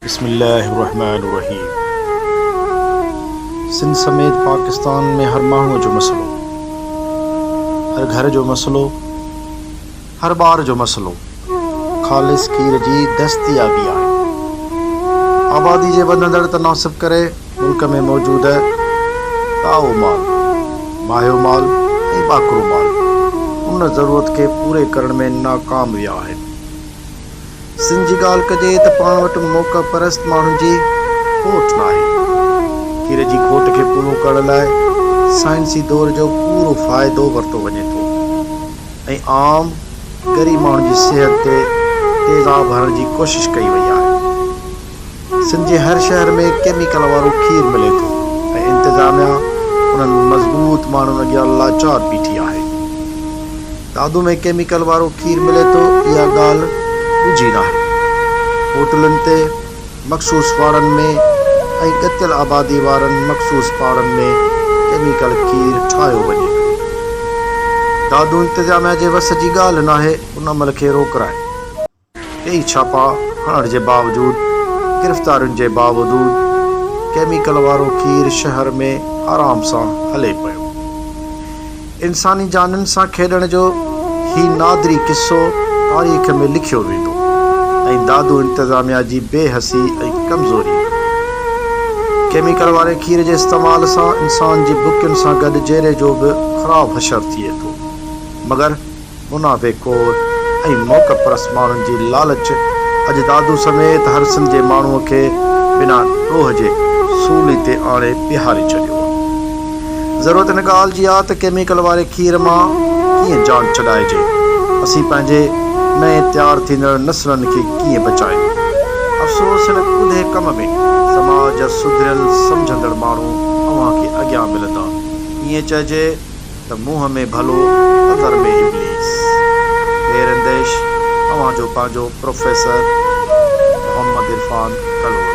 بسم الله الرحمٰن الرحيم سنڌ سميت پاڪستان ۾ هر ماڻهو جو مسئلو هر گهر جو مسئلو هر ٻار جو مسئلو خالص کير جي دستيابي آهي آبادي جي وڌندڙ تناسب ڪري ملڪ ۾ موجود تائو مال ماهيو مال ۽ ٻاڪرو مال ان ضرورت کي پوري ڪرڻ ۾ ناڪام ويا آهن سن جي ڳالهه ڪجي ته پاڻ وٽ موقع پرست ماڻهن جي کوٽ ناهي. کير جي کوٽ کي پورو ڪرڻ لاء سائنسي دور جو پورو فائدو ورتو وڃي ٿو ۽ عام ڳري ماڻهن جي صحت تي تيزاب هڻڻ جي ڪوشش ڪئي وئي آهي. سن جي هر شهر ۾ ڪيميڪل وارو کير ملي ٿو ۽ انتظاميا انهن مضبوط ماڻهن اڳيان لاچار بيٺي آهي. دادو ۾ ڪيميڪل وارو کير ملي ٿو اها ڳالهه ڳجهي ناهي. هوٽلن تي، مخصوص واڙن ۾ ۽ ڳتيل آبادي وارن مخصوص پاڙن ۾ ڪيميڪل کير ٺاهيو وڃي ٿو. دادو انتظاميا جي وس جي ڳالهه ناهي ان عمل کي روڪرائڻ. ڪيئي ڇاپا هڻڻ جي باوجود گرفتارين جي باوجود ڪيميڪل وارو کير شهر ۾ آرام سان هلي پيو. انساني جانين سان کيڏڻ جو هي نادري قصو تاريخ ۾ لکيو ويندو ۽ دادو انتظاميا جي بي حسي ۽ ڪمزوري ڪيميڪل واري کير جي استعمال سان انسان جي بڪين سان گڏ جيري جو به خراب حشر ٿئي ٿو مگر منافعي خور ۽ موقعه پرست ماڻهن جي لالچ اڄ دادو سميت هر سنڌ جي ماڻهوء کي بنا ڏوهه جي سولي تي آڻي بيهاري ڇڏيو آهي. ضرورت ان ڳالهه جي آهي ته ڪيميڪل واري کير مان ڪيئن جان ڇڏائجي، اسين پنهنجي نئين تيار ٿيندڙ نسلن کي ڪيئن بچايون. افسوس هن ڪوڌي ڪم ۾ سماج جا سڌريل سمجهندڙ ماڻهو اوهان کي اڳيان ملندا. ايئن چئجي. ته منهن ۾ ڀلو اٿر ۾ ابليس. خير انديش اوهان جو پنهنجو پروفيسر محمد عرفان ڪلهوڙو.